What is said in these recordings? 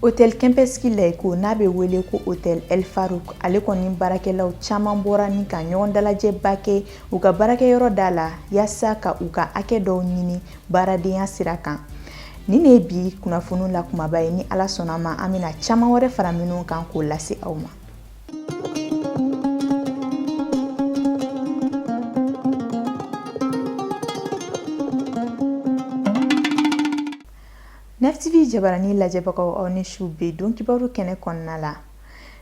Otɛli Kɛmpɛski Layiko n'a bɛ wele ko otɛli Ɛli Faruku ale kɔni baarakɛlaw caman bɔra ni ka ɲɔgɔn dalajɛba kɛ u ka baarakɛyɔrɔ da la yaasa ka u ka hakɛ dɔw ɲini baaradenya sira kan nin de ye bi kunnafoni la kumaba ye ni ala sɔnna ma an bɛna caman wɛrɛ fara minnu kan k'o lase aw ma nɛfitibi jabarani lajɛbagaw aw ni su bi don kibaru kɛnɛ kɔnɔna la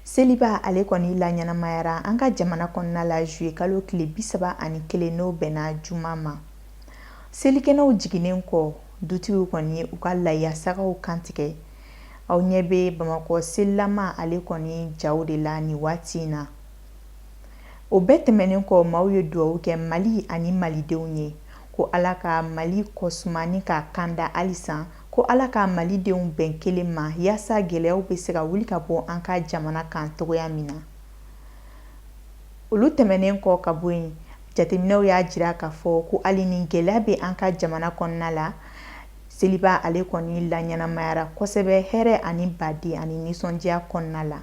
seliba ale kɔni laɲɛnamayara an ka jamana kɔnɔna la juye kalo tile bisaba ani kelen n'o bɛnna juma ma Selikɛnɛw jiginnen kɔ dutigiw kɔni ye u ka layasagaw kantigɛ aw ɲɛ bɛ bamakɔ selilama ale kɔni jaw de la nin waati in na o bɛɛ tɛmɛnen kɔ maaw ye dugawu kɛ mali ani malidenw ye ko ala ka mali ko suma ni k'a kanda halisa ko ala ka malidenw bɛn kelen ma yaasa gɛlɛyaw bɛ se ka wuli ka bɔ an ka jamana kan cogoya min na Olu tɛmɛnen kɔ ka bɔ yen, jateminɛw y'a jira k'a fɔ ko hali ni gɛlɛya bɛ an ka jamana kɔnɔna la, seliba ale kɔni laɲɛnamayara kosɛbɛ hɛrɛ ani badenya ni nisɔndiya kɔnɔna la.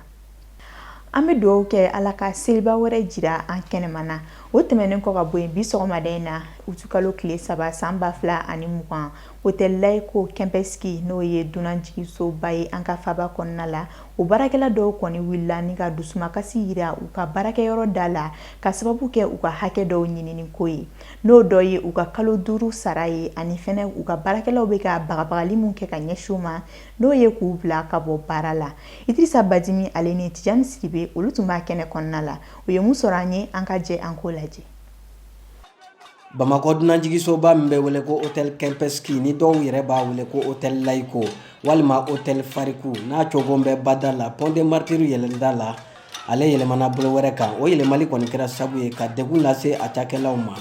An bɛ dugawu kɛ Ala ka seliba wɛrɛ jira an kɛnɛman na. O tɛmɛnen kɔ ka bɔ yen, bi sɔgɔmada in na, utukalo tile saba san ba fila ani mugan, Otɛli Layiko Kɛmpɛski n'o ye dunanjiginsoba ye an ka faba kɔnɔna la o baarakɛla dɔw kɔni wulila ni ka dusumakasi yira u ka baarakɛyɔrɔ da la ka sababu kɛ u ka hakɛ dɔw ɲininiko ye n'o dɔ ye u ka kalo duuru sara ye ani fɛnɛ u ka baarakɛlaw bɛ ka bagabagali min kɛ ka ɲɛsin u ma n'o ye k'u bila ka bɔ baara la Idirisa Bajimi ale ni Tijani Sidibe olu tun b'a kɛnɛ kɔnɔna la u ye min sɔrɔ an ye an ka jɛ an k'o lajɛ Bamakɔ dunanjiginsoba min bɛ wele ko otɛli Kɛmpɛski ni dɔw yɛrɛ b'a wele ko otɛli Layiko walima otɛli Faruku n'a cogo bɛ bada la Pont des Martyrs yɛlɛnda la ale yɛlɛmana bolo wɛrɛ kan o yɛlɛmali kɔni kɛra sabu ye ka degun lase a cakɛlaw ma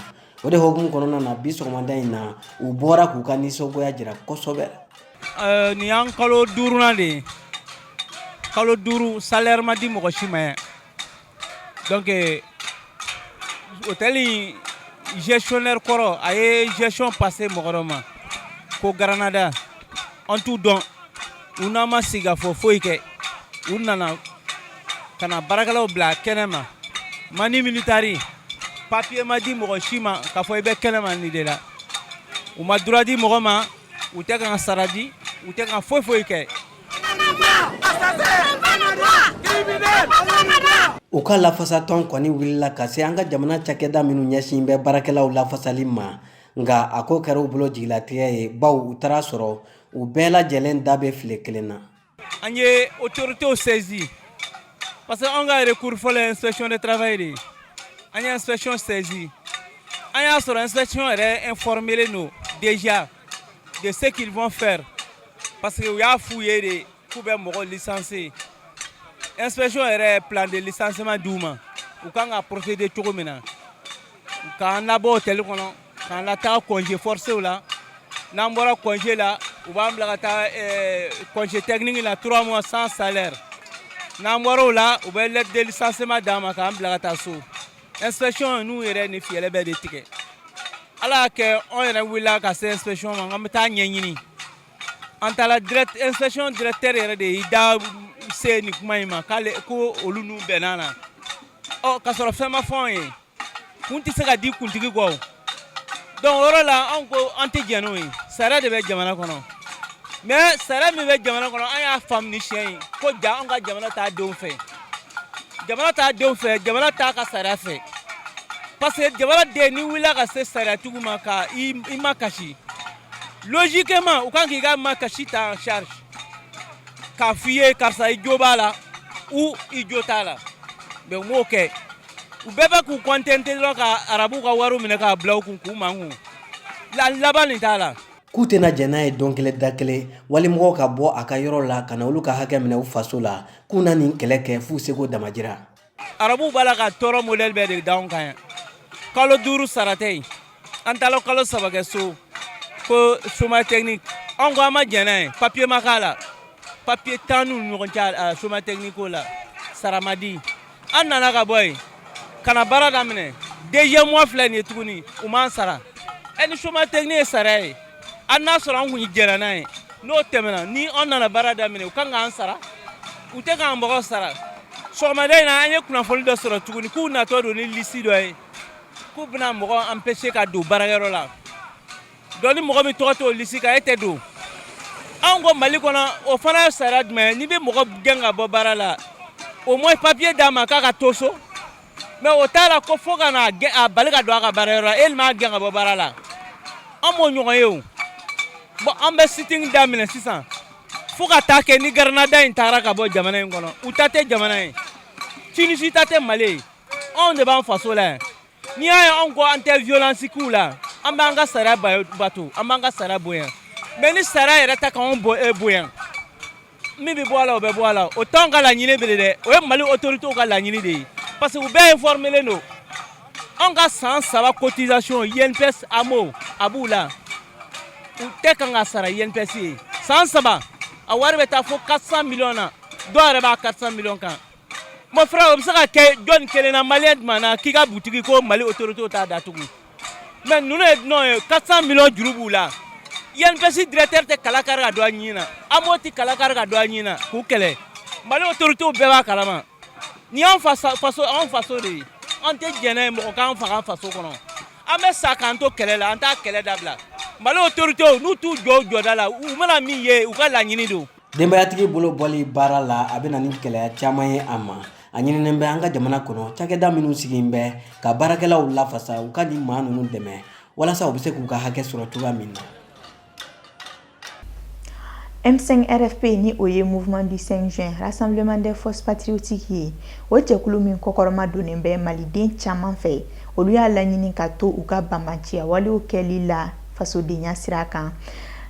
o de hukumu kɔnɔna na bi sɔgɔmada in na u bɔra k'u ka nisɔngoya jira kosɛbɛ ɛɛ nin y'an kalo duurunan de ye kalo duuru salaire ma di mɔgɔ si ma donc hôtel in gestionnaire kɔrɔ a ye gestion passé mɔgɔ dɔ ma ko Granada an t'u dɔn u n'an ma sigikafɔ foyi kɛ u nana ka na baarakɛlaw bila kɛnɛ ma manu militari papiye ma di mɔgɔ si ma k'a fɔ i bɛ kɛnɛ ma nin de la u ma droit di mɔgɔ ma u tɛ ka sara di u tɛ ka foyi foyi kɛ U ka lafasatɔn kɔni wulila ka se an ka jamana cakɛda minnu ɲɛsin bɛ baarakɛlaw lafasali ma nka a ko kɛra u bolo jigilatigɛ ye baw u taara a sɔrɔ u bɛɛ lajɛlen da bɛ file kelen na an ye autoritéw saisi parce que an ka recours fɔlɔ ye inspection de travail de ye an ye inspection saisi an y'a sɔrɔ inspection yɛrɛ informélen don déjà de ce qu'ils vont faire parce que u y'a f'u ye de k'u bɛ mɔgɔ licencier inspection yɛrɛ plan de licenciement d'u ma u kan ka procéder cogo min na k'an labɔ hôtel kɔnɔ k'an lataa congé forcéw la n'an bɔra congé la u b'an bila ka taa eh, congé technique la trois mois sans salaire n'an bɔra o la u bɛ lettre de licenciement d'an ma k'an bila ka taa so inspection n'u yɛrɛ ni fiyɛlɛ bɛɛ de tigɛ ala y'a kɛ anw yɛrɛ wulila ka se inspection ma an bɛ taa ɲɛɲini an taara direct inspection directeur yɛrɛ de y'i da se nin kuma in ma k'ale ko olu n'u bɛnna na ɔ ka sɔrɔ fɛn ma fɔ anw ye kun tɛ se ka di kuntigi kɔ Donc o yɔrɔ la anw ko an tɛ jɛn n'o ye sariya de bɛ jamana kɔnɔ mais sariya min bɛ jamana kɔnɔ an y'a faamu nin siɲɛ ye ko ja an ka jamana t'a denw fɛ jamana t'a denw fɛ jamana t'a ka sariya fɛ parce que jamana den n'i wulila ka se sariyatigiw ma ka i makasi logiquement u kan k' i ka makasi ta en charge k'a fɔ i ye karisa i jo b'a la ou i jo t'a la mais u m'o kɛ u bɛɛ bɛ k'u contenter dɔrɔn ka arabuw ka wariw minɛ k'a bila u kun k'u mankun la laban nin t'a la k'u tɛna jɛn n'a ye don kelen da kelen walimɔgɔw ka bɔ a ka yɔrɔ la ka na olu ka hakɛ minɛ u faso la k'u na nin kɛlɛ kɛ f'u seko damajira arabuw b'a la ka tɔɔrɔ modɛli bɛɛ de d'anw kan yan kalo duuru sara tɛ yen an taara kalo saba kɛ so ko chômage technique anw ko an ma jɛn n'a ye papier ma k'a la papier t'an n'u ni ɲɔgɔn cɛ chômage technique ko la sara ma di an nana ka bɔ yen ka na baara daminɛ deuxième mois filɛ nin ye tuguni u m'an sara ɛ ni chômage technique ye sariya ye an n'a sɔrɔ an kun jɛnna n'a ye n'o tɛmɛna ni an nana baara daminɛ u kan k'an sara u tɛ k'an mɔgɔ sara sɔgɔmada in na an ye kunnafoni dɔ sɔrɔ tuguni k'u natɔ don ni lisi dɔ ye K'u bɛna mɔgɔ empêcher ka don baarakɛyɔrɔ la donc ni mɔgɔ min tɔgɔ t'o lisi kan e tɛ don anw ko mali kɔnɔ o fana ye sariya jumɛn n'i bɛ mɔgɔ gɛn ka bɔ baara la au moins papier d'a ma k'a ka to so mais o t'a la ko fo ka na a bali ka don a ka baarayɔrɔ la e m'a gɛn ka bɔ baara la an m'o ɲɔgɔn ye o bon an bɛ sit-in daminɛ sisan fo ka taa kɛ ni Granada in taara ka bɔ jamana in kɔnɔ u ta tɛ jamana ye Tunisie ta tɛ mali ye anw de b'an faso la yan n'i y'a ye anw ko an tɛ violence k'u la an b'an ka sariya bato an b'an ka sariya bonya mais ni sariya yɛrɛ ta k'anw eh, bonya min bɛ bɔ a la o bɛ bɔ a la o t'anw ka laɲini bele dɛ o ye mali autoritéw ka laɲini de ye parce que u bɛɛ informelen don anw ka san saba cotisation INPS AMO a b'u la u tɛ kan ka sara INPS ye san saba a wari bɛ taa fo 400 millions na dɔw yɛrɛ b'a 400 millions kan Mon frère o bɛ se ka kɛ jɔnni kelen na malien jumɛn na k'i ka butigi ko mali autoritéw t'a datugu mais ninnu ye dunan ye 400 millions juru b'u la INPS directeur tɛ kala kari ka don a ɲin na AMO tɛ kala kari ka don a ɲin na k'u kɛlɛ mali autoritéw bɛɛ b'a kalama nin y'an faso de ye an tɛ jɛn n'a ye mɔgɔ k'an faga an faso kɔnɔ an bɛ sa k'an to kɛlɛ la an t'a kɛlɛ dabila mali autoritéw n'u t'u jɔ u jɔda la u mana min ye u ka laɲini don denbayatigi bolo bɔli baara la a bɛ na ni gɛlɛya caman ye a ma a ɲininen bɛ an ka jamana kɔnɔ cakɛda minnu sigilen bɛ ka baarakɛlaw lafasa u ka nin maa ninnu dɛmɛ walasa u bɛ se k'u ka hakɛ sɔrɔ cogoya min na M5 RFP ni o ye Mouvement du 5 juin Rassemblement des Forces Patriotiques ye o jɛkulu min kɔkɔrɔma donnen bɛ Maliden caman fɛ olu y'a laɲini ka to u ka banbanciya walew kɛli la fasodenya sira kan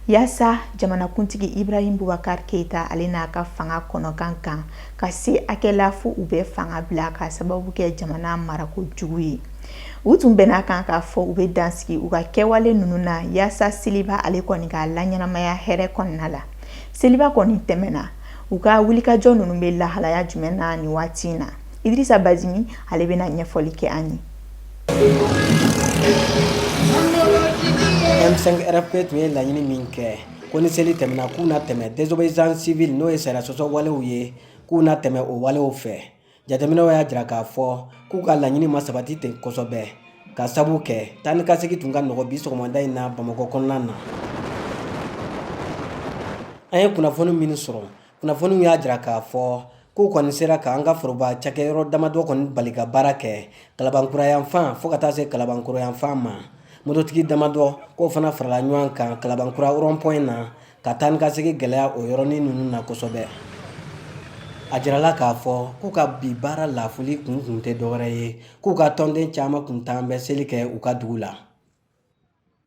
yaasa jamanakuntigi Ibrahim Boubacar Keita ale n'a ka fanga kɔnɔ ka gan ka se hakɛ la fo u bɛ fanga bila k'a sababu kɛ jamana marako jugu ye. U tun bɛn'a kan k'a fɔ u bɛ dansigi u ka kɛwale ninnu na yaasa seliba ale kɔni ka laɲɛnamaya hɛrɛ kɔnɔna la. Seliba kɔni tɛmɛna, u ka wulikajɔ ninnu bɛ lahalaya jumɛn na nin waati in na? Idirisa Bazimi ale bɛna ɲɛfɔli kɛ an ye. M5 RFP tun ye laɲini min kɛ ko ni seli tɛmɛna k'u na tɛmɛ désobéissance civile n'o ye sariya sɔsɔ walew ye k'u na tɛmɛ o walew fɛ jateminɛw y'a jira k'a fɔ k'u ka laɲini ma sabati ten kosɛbɛ k'a sabu kɛ taa ni ka segin tun ka nɔgɔn bi sɔgɔmada in na bamakɔ kɔnɔna na an ye kunnafoni minnu sɔrɔ kunnafoniw y'a jira k'a fɔ k'u kɔni sera ka an ka foroba cakɛyɔrɔ damadɔ kɔni bali ka baara kɛ Kalabankura yanfan fo ka taa se Kalabankoro yanfan ma mototigi damadɔ k'o fana farala ɲɔgɔn kan Kalabankura rond-point na ka taa ni ka segi gɛlɛya o yɔrɔnin ninnu na kosɛbɛ a jirala k'a fɔ k'u ka bi baara lafuli kun kun tɛ dɔwɛrɛ ye k'u ka tɔnden caman kun taalen bɛ seli kɛ u ka dugu la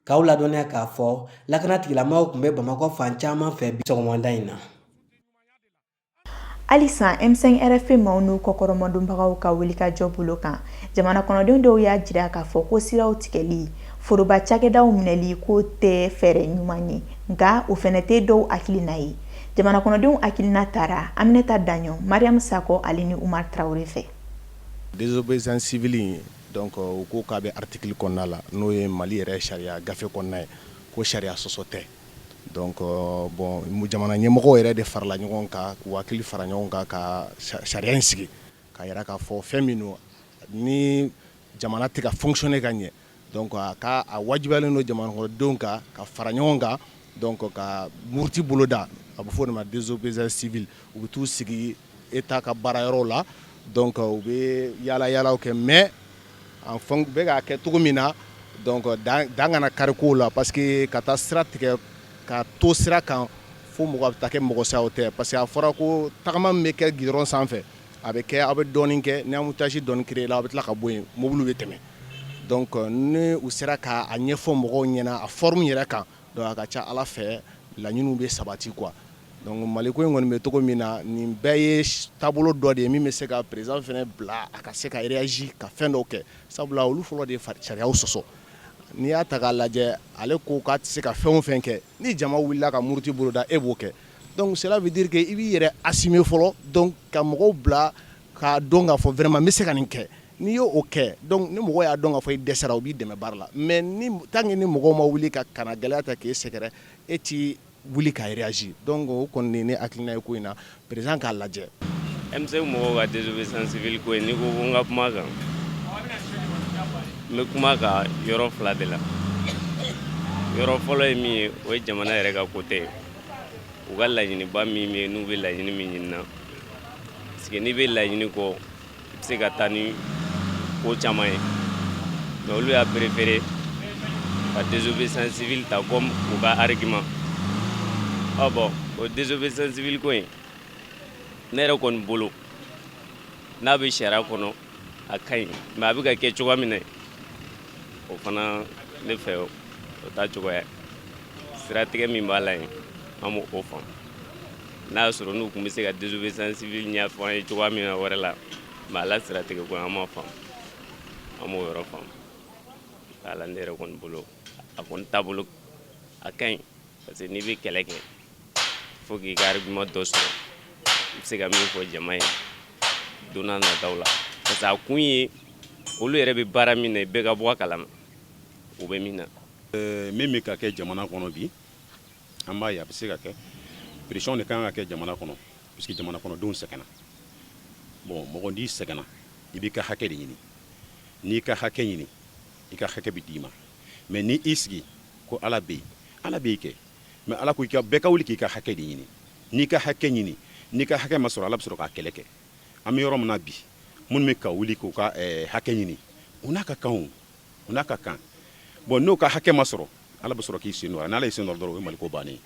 K'aw ladɔnniya k'a fɔ lakana tigilamɔgɔw tun bɛ bamakɔ fan caman fɛ bi sɔgɔmada in na halisa M5 RFP maaw n'u kɔkɔrɔmadonbagaw ka wulikajɔ bolo kan jamana kɔnɔdenw dɔw y'a jira k'a fɔ ko siraw tigɛli foroba cakɛdaw minɛli k'o tɛ fɛɛrɛ ɲuman ye nka o fɛnɛ tɛ dɔw hakilina ye jamana kɔnɔdenw hakilina taara aminata daɲɔ mariyamu sakɔ ale ni umar traoré fɛ désobéissance civile Donc u ko k'a bɛ article kɔnɔna la n'o ye mali yɛrɛ sariya gafe kɔnɔna ye ko sariya sɔsɔ tɛ donc bon jamana ɲɛmɔgɔw yɛrɛ de farala ɲɔgɔn kan k'u hakili fara ɲɔgɔn kan ka sariya in sigi k'a yira k'a fɔ fɛn min don ni jamana tɛ ka fonctionner ka ɲɛ donc k'a wajibiyalen don jamanakɔnɔdenw kan ka fara ɲɔgɔn kan donc ka muruti boloda a bɛ fɔ o de ma désobéissance civile u bɛ taa u sigi État ka baarayɔrɔw la donc u bɛ yaalayaalaw kɛ mais en fait u bɛ k'a kɛ cogo min na donc dan kana kari kow la parce que ka taa sira tigɛ ka to sira kan fo mɔgɔ bɛ taa kɛ mɔgɔ sa tɛ parce que a fɔra ko tagama min bɛ kɛ gidɔrɔn sanfɛ a bɛ kɛ aw bɛ dɔɔnin kɛ ni embouteillage dɔɔnin créé la aw bɛ tila ka bɔ yen mobili bɛ tɛmɛ donc ni u sera k'a ɲɛfɔ mɔgɔw ɲɛna a forme yɛrɛ kan Donc a ka ca ala fɛ laɲiniw bɛ sabati quoi donc mali ko in kɔni bɛ cogo min na nin bɛɛ ye taabolo dɔ de ye min bɛ se ka président fɛnɛ bila a ka se ka réagir ka fɛn dɔw kɛ sabula olu fɔlɔ de ye sariyaw sɔsɔ n'i y'a ta k'a lajɛ ale ko k'a tɛ se ka fɛn o fɛn kɛ ni jama wulila ka muruti boloda e b'o kɛ donc cela veut dire que i b'i yɛrɛ assumer fɔlɔ donc ka mɔgɔw bila K'a dɔn k'a fɔ vraiment n bɛ se ka nin kɛ n'i y'o kɛ donc ni mɔgɔw y'a dɔn k'a fɔ i dɛsɛra u b'i dɛmɛ baara la mais ni tant que ni mɔgɔw ma wuli ka ka na gɛlɛya ta k'i sɛgɛrɛ e t'i wuli ka réagir donc o kɔni ne hakilina ye ko in na président k'a lajɛ M5 mɔgɔw ka désobéissance civile ko in n'i ko n ka kuma kan n bɛ kuma ka yɔrɔ fila de la yɔrɔ fɔlɔ ye min ye o ye jamana yɛrɛ ka côté ye u ka laɲiniba min bɛ yen n'u bɛ laɲini min ɲini na n'i bɛ laɲini kɔ i bɛ se ka taa ni ko caman ye mais olu y'a préféré ka désobéissance civile ta comme u ka argument ɔ bon o désobéissance civile ko in ne yɛrɛ kɔni bolo n'a bɛ sariya kɔnɔ a ka ɲi mais a bɛ ka kɛ cogoya min na o fana ne fɛ o taa cogoya siratigɛ min b'a la yen an b'o faamu n'a y'a sɔrɔ n'u tun bɛ se ka désobéissance civile ɲɛfɔ an ye cogoya min na wɛrɛ la mais a la siratigɛ ko an m'a faamu an m'o yɔrɔ faamu a la ne yɛrɛ kɔni bolo a kɔni taabolo a ka ɲi parce que n'i bɛ kɛlɛ kɛ faut k'i ka argument dɔ sɔrɔ i bɛ se ka min fɔ jama ye don nataw la parce que a kun ye olu yɛrɛ bɛ baara min na bɛɛ ka bɔ a kalama u bɛ min na. Min bɛ ka kɛ jamana kɔnɔ bi an b'a ye a bɛ se ka kɛ pression de kan ka kɛ jamana kɔnɔ puisque jamana kɔnɔdenw sɛgɛnna bon mɔgɔ n'i sɛgɛnna i b'i ka hakɛ de ɲini n'i ka hakɛ ɲini i ka hakɛ bɛ d'i ma mais ni i sigi ko ala bɛ yen ala bɛ yen kɛ mais ala ko bɛɛ ka wuli k'i ka hakɛ de ɲini n'i ka hakɛ ɲini n'i ka hakɛ ma sɔrɔ ala bɛ sɔrɔ k'a kɛlɛ kɛ an bɛ yɔrɔ min na bi minnu bɛ ka wuli k'u ka eh, hakɛ ɲini u n'a ka kan o u n'a ka kan bon n'u ka hakɛ ma sɔrɔ ala bɛ sɔrɔ k'i sen don a n'ala y'i sen don dɔrɔn o ye maliko bannen ye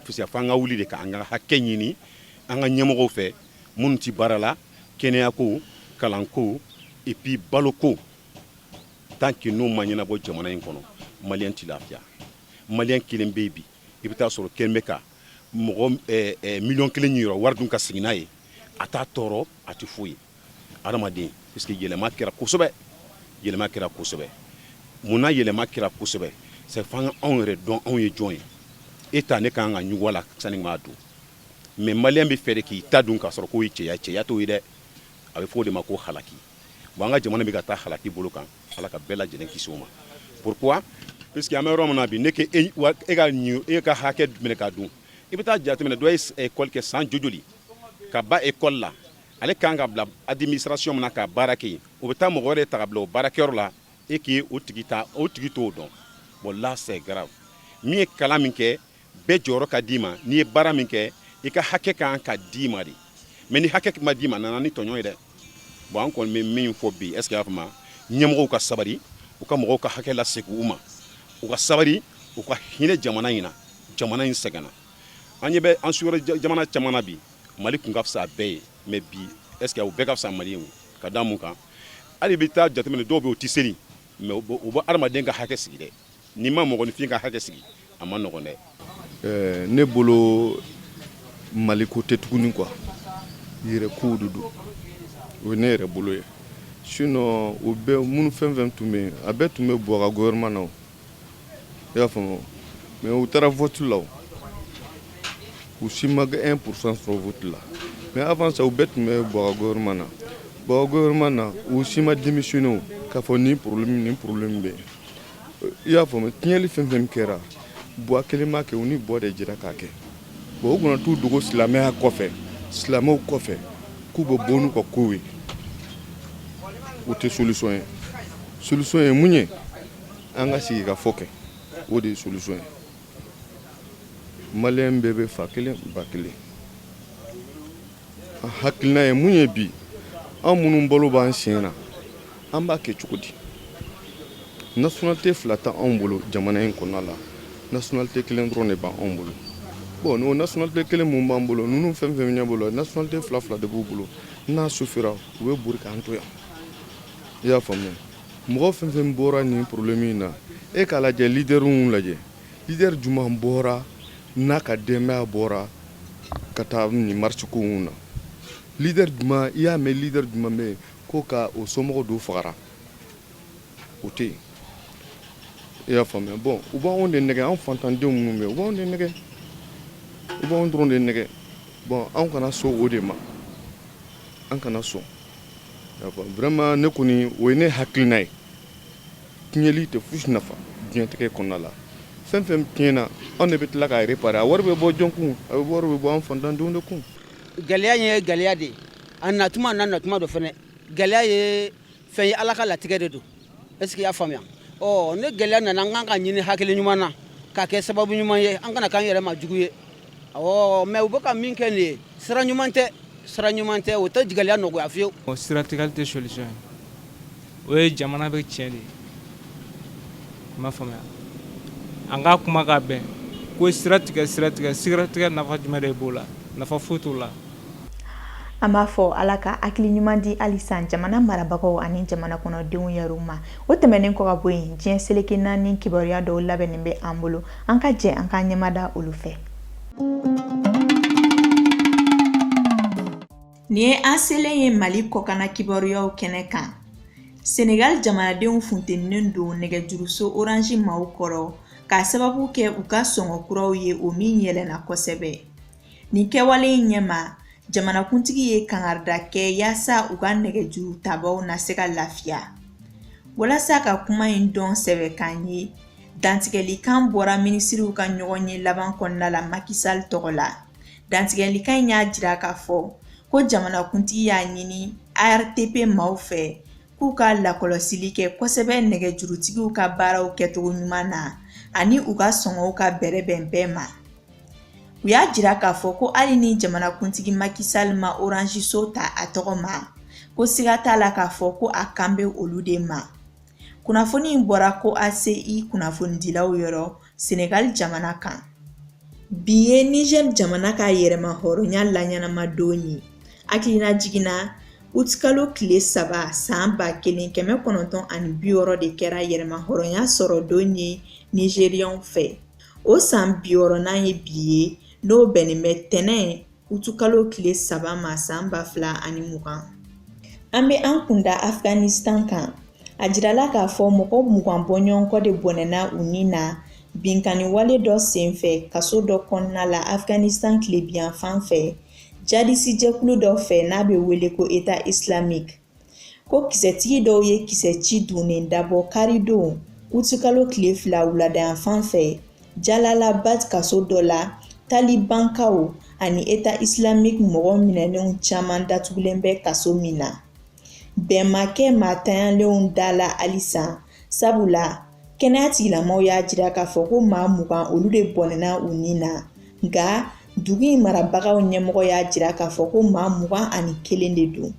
parce que fo an ka wuli de ka an ka hakɛ ɲini an ka ɲɛmɔgɔw fɛ minnu tɛ baara la kɛnɛyako kalanko et puis baloko tant que n'o ma ɲɛnabɔ jamana in kɔnɔ maliyɛn tɛ lafiya maliyɛn kelen bɛ yen bi i bɛ taa sɔrɔ kelen bɛ ka mɔgɔ miliyɔn kelen niyɔrɔ wari dun ka sigi n'a ye a t'a tɔɔrɔ a tɛ foyi ye adamaden parce que yɛlɛma kɛra kosɛbɛ yɛlɛma kɛra kosɛbɛ munna yɛlɛma kɛra kosɛbɛ c'est fo an ka anw yɛrɛ dɔn anw ye jɔn ye e ta ne ka kan ka ɲugu a la sani n k'a dun mais maliyɛn bɛ fɛ de k'i ta dun k'a sɔrɔ k'o ye cɛya cɛya t'o ye dɛ a bɛ fɔ o de ma ko halaki bon an ka jamana bɛ ka taa halaki bolo kan ala ka bɛɛ lajɛlen kisi o ma pourquoi puisque an bɛ yɔrɔ min na bi ne ke e, wa, e ka ɲu e ka hakɛ minɛ k'a dun i bɛ taa jateminɛ dɔ ye école kɛ san jojoli ka ban école la ale kan ka bila administration min na ka baara kɛ yen, o bɛ taa mɔgɔ wɛrɛ ta ka bila o baarakɛyɔrɔ la et que o tigi t'o dɔn bon là c'est grave min ye kalan min kɛ bɛɛ jɔyɔrɔ ka d'i ma n'i ye baara min kɛ i ka hakɛ kan ka d'i ma de mais ni hakɛ ma d'i ma a nana ni tɔɲɔ ye dɛ bon an kɔni bɛ min fɔ bi est ce que y'a faamu ɲɛmɔgɔw ka sabali u ka mɔgɔw ka hakɛ lasegin u ma u ka sabali u ka hinɛ jamana in na jamana in sɛgɛnna an ɲɛ bɛ an sous-région jamana caman na bi mali tun ka fisa a bɛɛ ye mais bi est ce que u bɛɛ ka fisa mali ye ka da mun kan hali bɛ taa jateminɛ dɔw bɛ u tɛ seli mais u bɛ adamaden ka hakɛ sigi dɛ n'i ma mɔgɔninfin ka hakɛ sigi a man nɔgɔn dɛ eh, ne bolo mali ko tɛ tuguni quoi yɛrɛ kow de don o ye ne yɛrɛ bolo ye sinon u bɛ minnu fɛn fɛn tun bɛ yen a bɛɛ tun bɛ Boua ka gouvernement na i y'a faamu mais u taara vote la u si ma kɛ 1 pourcent sɔrɔ vote la mais avant ça u bɛɛ tun bɛ Buwa ka gouvernement na Buwa ka gouvernement na u si ma démissionné o k'a fɔ nin problème nin problème bɛ yen i y'a faamu tiɲɛli fɛn fɛn kɛra Buwa kelen m'a kɛ u ni Buwa de jɛra k'a kɛ bon u kana t'u dogo silamɛya kɔfɛ silamɛw kɔfɛ k'u bɛ bɔ n'u ka kow ye o tɛ solution ye solution ye mun ye an ka sigikafɔ kɛ o de ye solution ye maliyɛn bɛɛ bɛ fa kelen ba kelen a hakilina ye mun ye bi an minnu balo b'an sen na an b'a kɛ cogo di nationalité fila tɛ anw bolo jamana in kɔnɔna la nationalité kelen dɔrɔn de b'anw bolo bon n'o nationalité kelen min b'an bolo ninnu fɛn fɛn ɲɛ bolo nationalité fila fila de b'u bolo n'a sufira u bɛ bori k'an to yan i y'a faamuya mɔgɔ fɛn fɛn bɔra nin problème in na e k'a lajɛ leaderw lajɛ leader juman bɔra n'a ka denbaya bɔra ka taa nin marche ko in na leader juman i y'a mɛn leader juman bɛ yen ko ka o somɔgɔ dɔ fagara o tɛ yen i y'a faamuya bon u b'anw de nɛgɛn anw fantandenw minnu bɛ yen u b'anw de nɛgɛn u b'anw dɔrɔn de nɛgɛn bon anw kana sɔn o de ma an kana sɔn Vraiment ne kɔni o ye ne hakilina ye. Tiɲɛli tɛ fosi nafa diɲɛlatigɛ kɔnɔna la. Fɛn fɛn tiɲɛna anw de bɛ tila k'a réparer a wari bɛ bɔ jɔn kun? A wari bɛ bɔ an faantandenw de kun. Gɛlɛya in ye gɛlɛya de ye, a natuma n'a natuma don fɛnɛ. Gɛlɛya ye fɛn ye Ala ka latigɛ de don. Est-ce que i y'a faamuya ni gɛlɛya nana an kan k'a ɲini hakili ɲuman na k'a kɛ sababu ɲuman ye an kana k'an yɛrɛ ma jugu ye mais u bɛ ka min kɛ nin ye sira ɲuman tɛ sira ɲuman tɛ o tɛ gɛlɛya nɔgɔya fiyewu siratigɛli tɛ solution ye o ye jamana bɛ tiɲɛ de i m'a faamuya an ka kuma ka bɛn ko siratigɛ siratigɛ siratigɛ nafa jumɛn de b'o la nafa foyi t'o la an b'a fɔ ala ka hakili ɲuman di halisa jamana marabagaw ani jamana kɔnɔdenw yɛrɛw ma o tɛmɛnen kɔ ka bɔ yen diɲɛ seleke naani kibaruya dɔw labɛnnen bɛ an bolo an ka jɛ an k'an ɲɛmada olu fɛ nin ye an selen ye mali kɔkana kibaruyaw kɛnɛ kan senegali jamanadenw funteninen don nɛgɛjuruso orange maaw kɔrɔ k'a sababu kɛ u ka sɔngɔ kuraw ye o min yɛlɛnna kosɛbɛ nin kɛwale in ɲɛma jamanakuntigi ye kangarida kɛ yaasa u ka nɛgɛjuru tabaw na se ka lafiya walasa ka kuma in dɔn sɛbɛkan ye dantigɛlikan bɔra minisiriw ka ɲɔgɔnye laban kɔnɔna la macky sall tɔgɔ la dantigɛlikan in y'a jira k'a fɔ ko jamanakuntigi y'a ɲini artp maaw fɛ k'u ka lakɔlɔsili kɛ kosɛbɛ nɛgɛjurutigiw ka baaraw kɛcogo ɲuman na ani u ka sɔngɔw ka bɛrɛbɛn bɛɛ ma u y'a jira k'a fɔ ko hali ni jamanakuntigi Macky Sall ma Orange so ta a tɔgɔ ma ko siga t'a la k'a fɔ ko a kan bɛ olu de ma kunnafoni in bɔra ko ACI kunnafonidilaw yɔrɔ Senegali jamana kan bi ye Nizɛri jamana ka yɛrɛma hɔrɔnya laɲanama don ye hakilina jiginna utikalo tile saba san ba kelen kɛmɛ kɔnɔntɔn ani biwɔɔrɔ de kɛra yɛrɛma hɔrɔnya sɔrɔ don ye nizɛriyɛnw fɛ o san biwɔɔrɔnan ye bi ye n'o bɛnnen bɛ tɛnɛn Utukalo tile saba ma san ba fila ani mugan an bɛ an kunda Afghanistan kan a jirala k'a fɔ mɔgɔ mugan bɔɲɔgɔnkɔ de bɔnɛna u ni na binkanni wale dɔ senfɛ kaso dɔ kɔnɔna la Afghanistan tilebiyan fan fɛ jadisijɛkulu dɔ fɛ n'a bɛ wele ko État islamique ko kisɛtigi dɔw ye kisɛ ci dunnen dabɔ karidon utikalo tile fila wuladayan fan fɛ Jalalabad kaso dɔ la talibankaw ani État islamique mɔgɔ minɛnenw caman datugulen bɛ kaso min na bɛn ma kɛ maatanyalenw da la halisa sabula kɛnɛya tigilamɔgɔw y'a jira k'a fɔ ko maa mugan olu de bɔnɛna u ni na nka dugu in marabagaw ɲɛmɔgɔ y'a jira k'a fɔ ko maa mugan ani kelen de don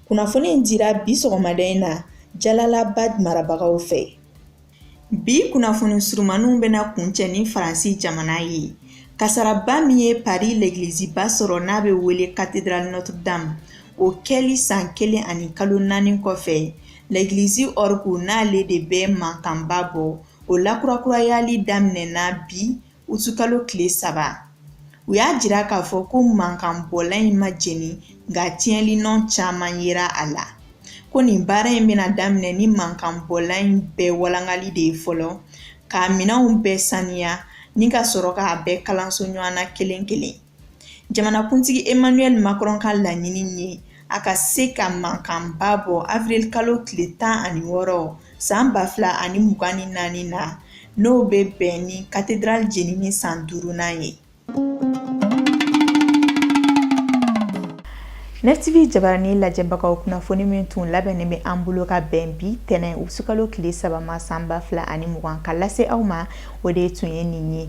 kunnafoni in dira bi sɔgɔmada in na Jalalabad marabagaw fɛ bi kunnafoni surumaniw bɛna kuncɛ ni faransi jamana ye kasaraba min ye pari legiliziba sɔrɔ n'a bɛ wele katedral notre dame o kɛli san kelen ani kalo naani kɔfɛ Legilizi orgue n'ale de bɛ mankanba bɔ o lakurakurayali daminɛna bi utikalo tile saba u y'a jira k'a fɔ ko mankanbɔla in ma jeni nka tiɲɛli nɔ caman yera a la ko nin baara in bɛna daminɛ ni mankanbɔla in bɛɛ walangali de ye fɔlɔ k'a minɛnw bɛɛ saniya ni ka sɔrɔ k'a bɛɛ kalanso ɲɔgɔn na kelen kelen jamanakuntigi emmanuel macron ka laɲini ye a ka se ka mankanba bɔ avril kalo tile tan ani wɔɔrɔ san ba fila ani mugan ni naani na n'o bɛ bɛn ni katedral jenini san duurunan ye Net TV jabarani lajɛbagaw kunnafoni min tun labɛnnen bɛ an bolo ka bɛn bi tɛnɛn utikalo tile saba ma san ba fila ani mugan ka lase aw ma o de tun ye nin ye